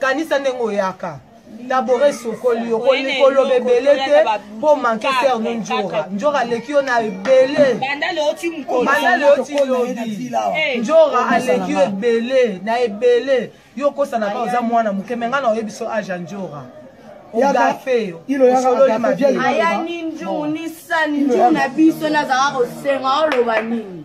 kanisa ndenge oyaka dabore esokoli yo koloba ebele te mpo manke ser no njora njora aleki yo na ebele banda leoti lobi eh. njora aleki yo ebele na ebele yo okosana kaka oza mwana moke me ngai na oyebi so age ya njora ogafe yo osololi mabe aya ninju nisani nju na biso nazalaka kosenga oloba nini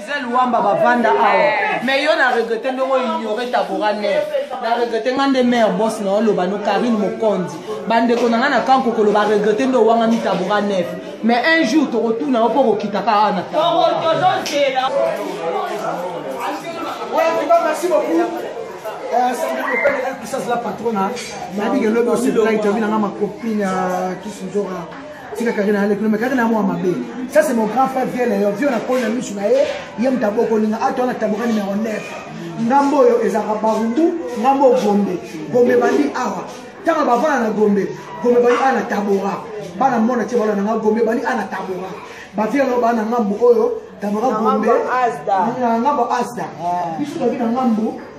gisèle wamba bavanda awa mais yo na regrete ndenge oignore tabora nef na regrete nga nde mare bos na oloba no karine mokonzi bandeko na nga na kankokolo baregrete nde owangami tabora nef mais un jour tokotuna yo mpo okokitaka awa na tabora merci beaucoup sasila patrona nayebi ke lobi oseplai toyebi nanga makopine ya kisinzora tika karina alekuna me karina mwa mabe ça c'est mon grand frère vieux leyo vieux nakoli na misu na ye ye moto abokolinga ato wana taboka numero 9 ngambo oyo ezalaka barumbu ngambo oyo gombe gombe bandi awa ntango bavanda na gombe gombe bandi awa na tabora bana mona tie bana nanga gombe bandi awa na tabora bavie yango bana ngambo oyo tabora gombe na ngambo asda biso toki na ngambo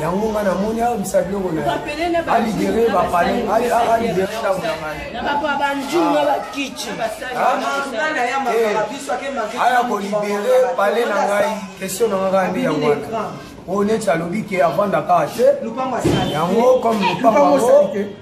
yango nga namoni abisa biloko naalibere bapale alibere ndako na ngaiaya kolibere pale na ngai question na nga kaka nde yango wana oyo neti alobi ke avandaka te yango comme lopango yango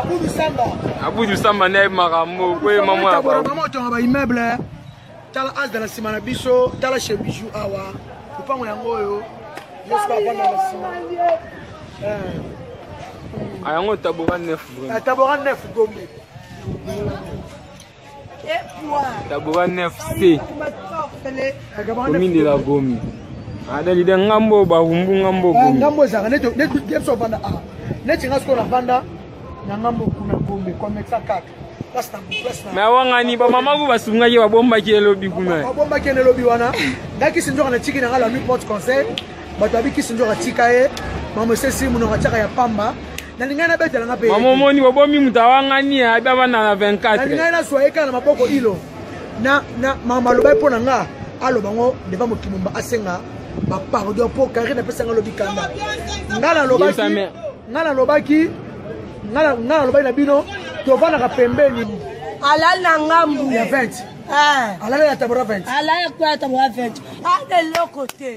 Abudu Samba. Abudu Samba ne makambo ko ye mama ya ba. Mama tonga ba immeuble. Tala as dala sima na biso, tala chez Bijou awa. Lupango yango oyo. Yesu ba bana na sima. Eh. Ayango tabora 9 vraiment. Tabora 9 gombe. Tabora 9C. Commune de la Gomi. adali de ngambo bahumbu ngambo ah, gombe ngambo ezanga neti biso ovanda a neti nga sikoyo navanda na ngambo kuna gombe komexa kaka me awangani bamama ku basungaki babombaki elobi kuna babombaki ene elobi wana nga kisi nzoka na tiki na nga la nuit porte conseil bato abi kisi nzoka tika ye mamosesi monoko atiaka ya pamba nalingai nabetela nga mpe mama omoni bobomi moto awangani ya abi abanda na 24 nalingai nazwa ye kaka na maboko ilo na na mama alobai mpo na nga aloba ngo deva mokimumba asenga bapardon mpo kari napesa nga lobi kanda nga nalobaki nga nalobaki nga nalobaki na bino tovanaka pembeni alali na ngambu ya 20 alali ya tabora 20 alali ya tabora 20 ana eloko te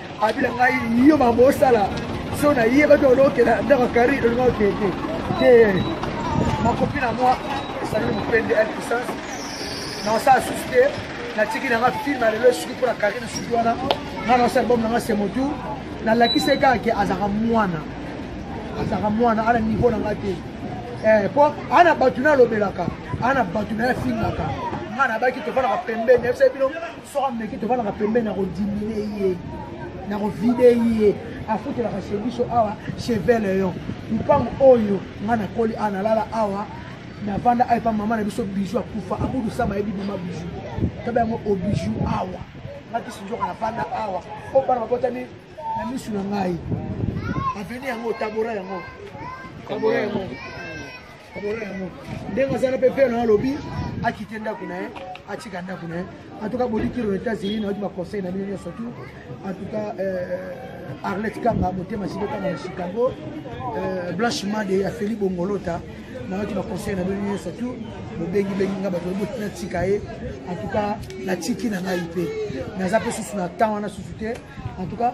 abila ngai yo mambo osala so nayebaki olokela ndako kari olinga okende te makopi na mwa esaleli mopende ya puissance na osala susu te natiki nanga filme lelo esuki mpo na karine suki wana nga na osala album nanga semotu nalakisaki kaka ke azalaka mwana azalaka mwana ana niveau na nga te eh, mpo ana bato nalobelaka ana bato naye afingaka nga nabaki tofandaka pembeni yebisa bino soki ameki tofandaka pembeni nakodimine ye nakovide ye afutelaka chez biso awa chez veleon mpango oyo ngai nakoli awa nalala awa navanda awa epa mama na biso bijou akufa abudu sama yebi mama bijou tobe yango obijou awa ngai kisi nzoka navanda awa o bana babotami na misu na ngai aveni yango tabora yango tabora yango ndenge azana mpe pere na alobi akite ndako na ye atika ndako na ye antuka bodikiro na états-unis nayoki baconseil na bino nyonso tu antuka euh, arlette kanga motema sibe kanga na chicago euh, blanche made ya feli bongolota nayoki baconseil na bino nyonso tu bobengibengi nga bato boti natika ye antuka natiki na ngai mpe naza mpe susu na temps wana susu te antuka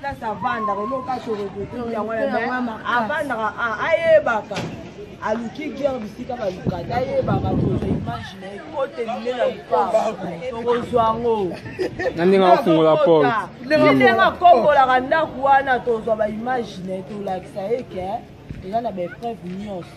place avandaka eloko aso regrete yango avandaka ayebaka aluki guerre bisika balukata ayebaka tozo image na ekote lile na lupaa tokozwa yango na ndenge afungola porte ndenge akombolaka ndako wana tozwa baimage na ye tolakisa ye ke eza na baepreuve nyonso